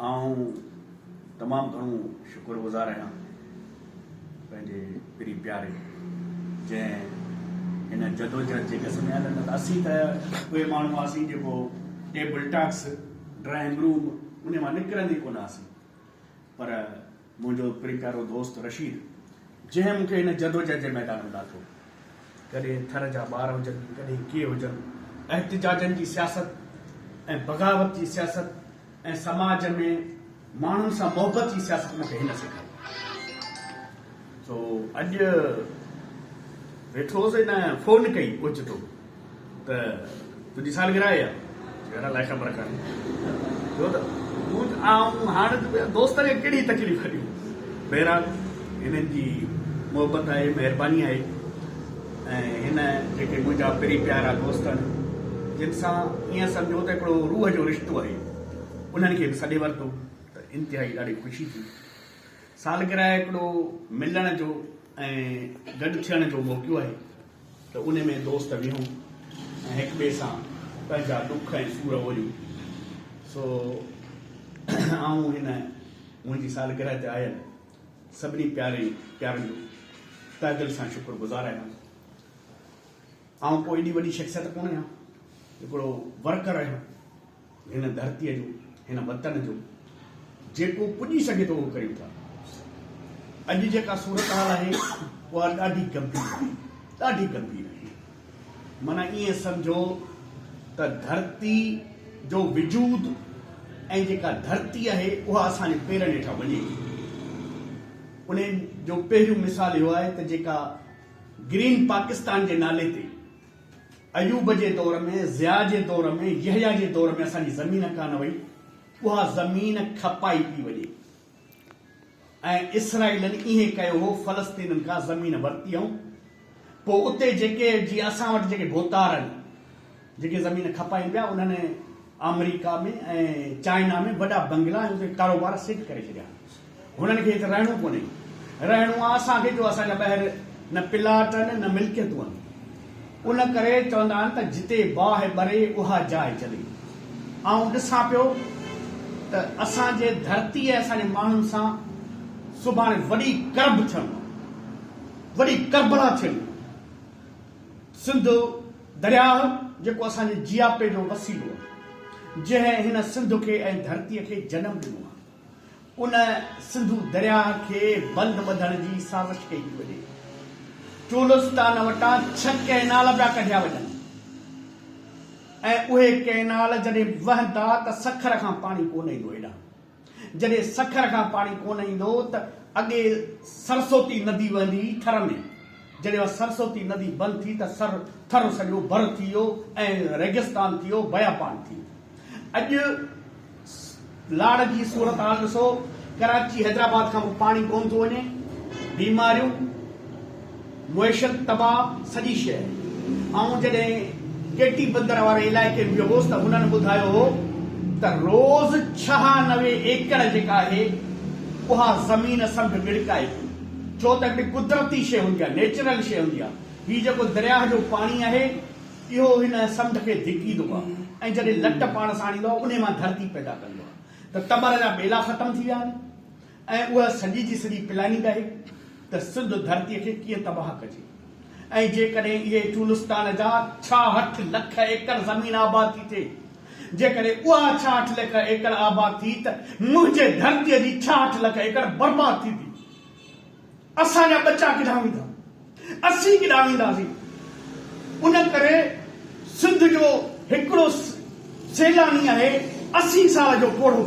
آئون تمام گهڻو شڪر گذار آهيان پنهنجي پرين پياري جنهن هن جدوجهد جي ڳس ۾ آهي نه ته اسين ته اهي ماڻهو هئاسين جيڪو ٽيبل ٽاڪس ڊرائنگ روم انهي مان نڪرن ئي ڪونه هئاسين پر منهنجو پرين پيارو دوست رشيد جنهن مون کي هن جدوجهد جي ميدان ۾ لاٿو. ڪڏهن ٿر جا ٻار هجن، ڪڏهن ڪي هجن، احتجاجن جي سياست ۽ بغاوت جي سياست ۽ سماج ۾ ماڻهن سان محبت جي سياست مون کي هن سيکاري. سو اڄ ويٺو هوس هن فون ڪئي اوچتو. ته تنهنجي سالگرهه آئي آهي. جهڙا لائقا برکا ني ٿيو ته تون آئون هاڻ ته ٻيا دوست کي ڪهڙي تڪليف ڏيون. بهرحال هنن جي محبت آهي، مهرباني آهي ۽ هن جيڪي منهنجا پرين پيارا دوست آهن جن سان ائين سمجهو ته هڪڙو روح جو رشتو آهي انهن کي به سڏي ورتو ته انتهائي ڏاڍي خوشي ٿي. سالگرهه هڪڙو ملڻ جو ۽ گڏ ٿيڻ جو موقعو آهي. ته ان ۾ دوست ويهون ۽ هڪ ٻئي سان پنهنجا ڏک ۽ سور اوليون. سو آئون هن منهنجي سالگرهه تي آيل سڀني پيارين پيارن جو تهه دل سان شڪر گذار آهيان. آئون ڪو ايڏي وڏي شخصيت ڪونه آهيان، هڪڙو ورڪر آهيان. هن ڌرتيء جو، هن وطن جو جيڪو پڄي سگهي ٿو اهو ڪريون ٿا. اڄ جيڪا صورتحال آهي اها ڏاڍي گنڀير آهي، ڏاڍي گنڀير آهي. معنيٰ ائين سمجهو ته ڌرتي جو وجود ۽ جيڪا ڌرتي آهي اها اسان جي پيرن هيٺان وڃي ٿي. ان جو پهريون مثال اهو آهي ته جيڪا گرين پاڪستان جي نالي تي ايوب جي دور ۾، ضياء جي دور ۾، يحيٰ جي دور ۾ اسان جي زمين ڪانه وئي، اها زمين کپائي پئي وڃي ۽ اسرائيلن ائين ڪيو هو، فلسطينن کان زمين ورتي هئائون، پوء اتي جيڪي جيئن اسان وٽ جيڪي ڀوتار آهن، جيڪي زمين کپائين پيا، انهن آمريڪا ۾ ۽ چائنا ۾ وڏا بنگلا ۽ اتي ڪاروبار سيٽ ڪري ڇڏيا. هنن کي هت رهڻو ڪونهي. رهڻو آ اسان کي جو اسان جا ٻهر نه پلاٽ آهن نه ملڪيتون آهن. ان ڪري چوندا آهن ته جتي باهه ٻري اها جاء جلي. آئون ڏسان پيو ته اسان جي ڌرتي ۽ اسان جي ماڻهن سان سڀاڻي وڏي ڪرڀ ٿيڻو آهي. وڏي ڪربلا ٿيڻي آهي. سنڌو درياهه جيڪو اسان جي جياپي جو وسيلو آهي. جنهن هن سنڌ کي ۽ ڌرتي کي جنم ڏنو آهي. ان سنڌو درياهه کي بند ٻڌڻ جي سازش ڪئي پئي وڃي. چولستان وٽان ڇهه ڪئنال پيا ڪڍيا وڃن ۽ اهي ڪئنال جڏهن وهندا ته سکر کان پاڻي ڪونه ايندو هيڏانهن. جڏهن سکر کان پاڻي ڪونه ايندو ته اڳي سرسوتي ندي وهندي هئي ٿر ۾، جڏهن اها سرسوتي ندي بند ٿي ته ٿر سڄو ڀر ٿي ويو ۽ ريگستان ٿي ويو، بيابان ٿي ويو. اڄ لاڙ جي صورتحال ڏسو، ڪراچي حيدرآباد کان به پاڻي ڪونه ٿو وڃي، بيماريون، معيشت تباهه، سڄي شيء. آئون جڏهن ڪي ٽي بندر واري علائقي ۾ ويو هوس ته هنن ٻڌايو هو ته روز ڇهانوي ايڪڙ جيڪا آهي اها زمين سنڍ ٻڙڪائي ٿي ڇو ته هتي قدرتي شيء هوندي آهي، نيچرل شيء هوندي آهي، هي جيڪو درياهه جو پاڻي آهي، اهو ان سمنڊ کي ڌڪيندو آهي ۽ جڏهن لٽ پاڻ سان آڻيندو آهي انهي مان ڌرتي پيدا ڪندو آهي ته ٽٻر جا ٻيلا ختم ٿي ويا آهن ۽ اها سڄي جي سڄي پلاننگ آهي ته سنڌ ڌرتي کي ڪيئن تباهه ڪجي ۽ جيڪڏهن اهي چولستان جا ڇاهٺ لک ايڪڙ زمين آباد ٿي ٿئي جيڪڏهن اها ڇاهٺ لک ايڪڙ آباد ٿي ته منهنجي ڌرتي جي ڇاهٺ لک ايڪڙ برباد ٿيندي اسان جا ٻچا ڪيڏانهن ويندا؟ اسين ڪيڏانهن وينداسين؟ ان ڪري سنڌ جو هڪڙو سيلاني آهي اسي سال جو پوڙهو.